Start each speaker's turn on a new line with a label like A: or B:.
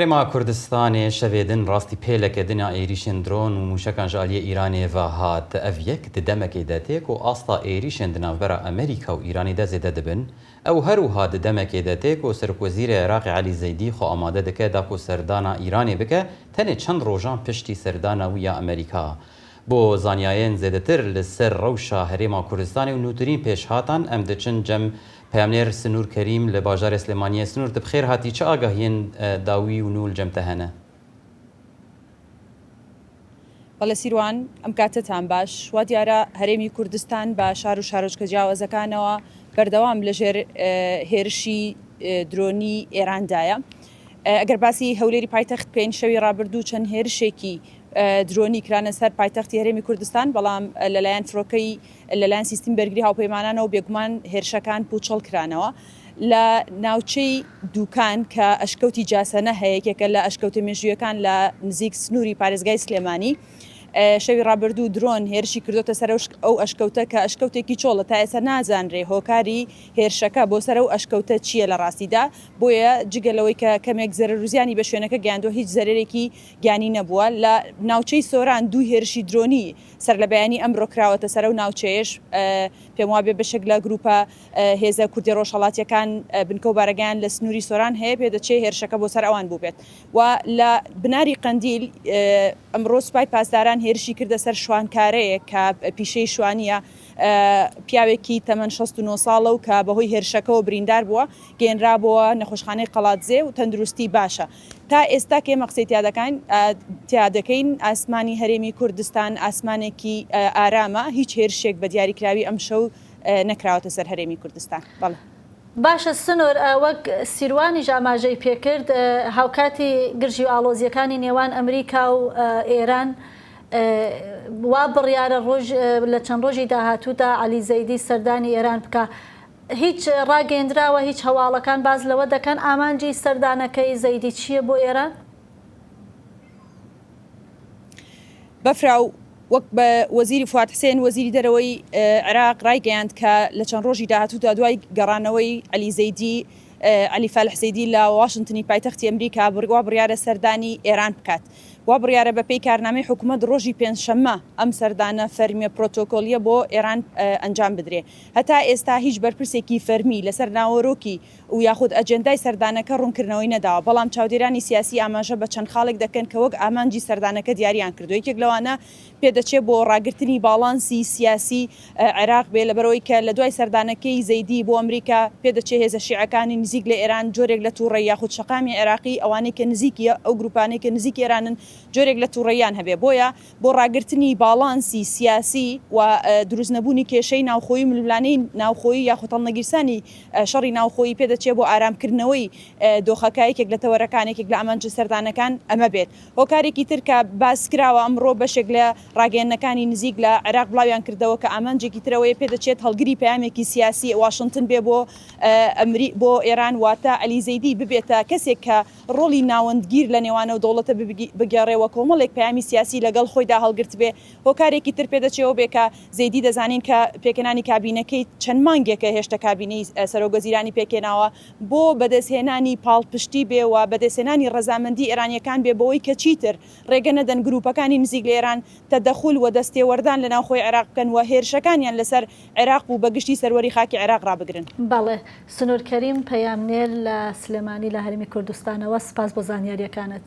A: هەرێما کوردستانێ شەێدن راستی پێلە کەێدنێ ئاێریشێن درۆن و مووشەکان ژە ئالیێ ئیرانێ ڤە هات، ئەڤ یەک ددەمەکێ دە تێک و ئاستا ئێریشێن دە ناڤبەرا ئەمریکا و ئیرانێ دە زێدە دبن، ئەو هەر و ها ددەمەکێ دە تێک و سەرک وەزیرێ عێراقێ عەلی زەیدی خوە ئامادە دکە داکو سەردانا ئیرانێ بکە، تەنێ چەن رۆژان پشتی سەردانا ویا ئەمریکا بۆ زانیاێن زێدەتر لە سەر رەوشا هەرێما کوردستانێ و نووترین پێش هاتان ئەم دچن جەم پەیامنێر سنور کەریم لە باژارێ سلێمانییە، سنور تە بخێر هاتی چ ئاگاهیێن داووی و نوول جەمتە هەنە؟
B: بەڵێ سیروان، ئەم کاتەتان باش. وا دیارە هەرێمی کوردستان بە شار و شارۆچکە جیاوازەکانەوە بەردەوام لە ژێر هێرشی درۆنی ئێران دایە. ئەگەر باسی هەولێری پایتەخت بکەین شەوی ڕابردوو چەند هێرشێکی درۆنی کرانە سەر پایتەختی هەرێمی کوردستان بەڵام لەلایەن فرۆکەی لەلایەن سیستمی بەرگری هاوپەیمانانەوە بێگومان هێرشەکان پوچەڵ کرانەوە لە ناوچەی دووکان کە ئەشکەوتی جاسەنە هەیە یەکێکە لە ئەشکەوتە مێژوویەکان لە نزیک سنووری پارێزگای سلێمانی شەوی ڕابردوو درۆن هێرشی کردوتە سەر ئەو ئەشکەوتە کە ئەشکەوتێکی چۆڵە تا ئێستا نازانرێ هۆکاری هێرشەکە بۆ سەر ئەو ئەشکەوتە چییە لە ڕاستیدا بۆیە جگە لەوەی کە کەمێک زەرروزیانی بە شوێنەکە گەیاندوە هیچ زەرێکی گیانی نەبووە لە ناوچەی سۆران دوو هێرشی درۆنی سەرلەبەیانی ئەمرۆ کراوەتە سەرو ناوچەیەش پێموابێ بەشێک لە گروپە هێزە کوردە رۆژهەڵاتیەکان بنکەو بارەگایان لە سنوری سۆران هەیە پێدەچێ هێرشەکە بۆ سەر ئەوان بوبێت و لە بناری قەندیل ئەمرۆ سوپای پاسداران هێرشی کردە سەر شوانکارەیەک کە پیشەی شوانیە پیاوێکی تەمەن شەست و نۆ ساڵەو کە بەهۆی هێرشەکەوە بریندار بوە گەیەنرابۆوە نەخۆشخانەی قەڵادزێ و تەندروستی باشە. تا ئێستا کە ئێمە قسەی تیا دەکاین تیا دەکەین ئاسمانی هەرێمی کوردستان ئاسمانێکی ئارامە هیچ هێرشێک بە دیاریکراوی ئەم شەو نەکراوەتە سەر هەرێمی کوردستان بەڵێ. باشە
C: سنۆر وەک سیروانیش ئاماژەی پێکرد هاوکاتی گرژی و ئاڵۆزیەکانی نێوان ئەمریکا و ئێران وا بڕیارە ڕۆژ لە چەند ڕۆژی داهاتوودا عەلی زەیدی سەردانی ئێران بکا هیچ ڕاگەیەندراوە هیچ هەواڵەکان باس لەوە دەکەن ئامانجی سەردانەکەی زەیدی چییە بۆ
B: ئێران؟ بەفراو وەک بە وەزیری فواد حسێن وەزیری دەرەوەی عێراق ڕایگەیاند کە لە چەند ڕۆژی داهاتوودا دوای گەڕانەوەی علی زەیدی علی فالح زەیدی لە واشنگتنی پایتەختی ئەمریکا بڕوا بڕیارە سەردانی ئێران بکات وا بڕیارە بەپێی کارنامەی حکوومەت ڕۆژی پێنجشەممە ئەم سەردانە فەرمیە پرۆتۆکۆلیە بۆ ئێران ئەنجام بدرێ هەتا ئێستا هیچ بەرپرسێکی فەرمی لەسەر ناوەرۆکی و یاخود ئەجێندای سەردانەکە ڕوونکردنەوەی نەداوە، بەڵام چاودێرانی سیاسی ئاماژە بە چەند خاڵێک دەکەن کە وەک ئامانجی سەردانەکە دیاریان کردووە، یەکێک لەوانە پێدەچێ بۆ ڕاگرتنی باڵانسی سیاسی عێراق بێ، لەبەرئەوەی کە لە دوای سەردانەکەی زەیدی بۆ ئەمریکا پێدەچێ هێزە شیعەکانی نزیک لە ئێران جۆرێک لە توڕەی یاخود شەقامی عێراقی ئەوانەی کە نزیکی ئەو گروپانەی کە نزیکی ئێرانن جۆرێک لە توڕەییان هەبێ، بۆیە بۆ ڕاگرتنی باڵانسی سیاسی و دروست نەبوونی کێشەی ناوخۆیی و ململانێی ناوخۆیی یاخود هەڵنەگیرسانی شەڕی ناوخۆیی پێ دەچێ بۆ ئارام کردنەوەی دۆخەکە یەکێک لە تەوەرەکان یەکێک لە ئامانجە سەردانەکان ئەمە بێت هۆکارێکی تر کە باس کراوە ئەمڕۆ بەشێک لە ڕاگەیەنەکانی نزیک لە عێراق بڵاویان کردەوە کە ئامانجێکی تر ئەوەیە پێ دەچێت هەڵگری پەیامێکی سیاسی واشنتن بێ بۆ بۆ ئێران واتە عەلی زەیدی ببێتە کەسێک کە ڕۆڵی ناوەندگیر لە نێوان ئەو دەوڵەتە بگێڕێ و کۆمەڵێک پەیامی سیاسی لە گەڵ خۆیدا هەڵگرتبێ، هۆکارێکی تر پێ دەچێ ئەوە بێ کە زەیدی دەزانین کە پێکهێنانی کابینەکەی چەند مانگێکە هێشتە کابینەی سەرۆک وەزیرانی پێکهێناوە بۆ بەدەستهێنانی پاڵپشتی بێ و بەدەستهێنانی ڕەزامەندی ئێرانییەکان بێ بەوەی کە چیتر ڕێگە نەدەن گرووپەکانی نزیک لە ئێران تەدەخول و دەستێوەردان لە ناوخۆی عێراق بکەن و هێرشەکانیان لە سەر عێراق و بە گشتی سەروەری خاکی عێراق ڕابگرن. بەڵێ. سنور
C: کەریم، پەیامنێر لە سلێمانی لە هەرێمی کوردستانەوە، سپاس بۆ زانیارییەکانت.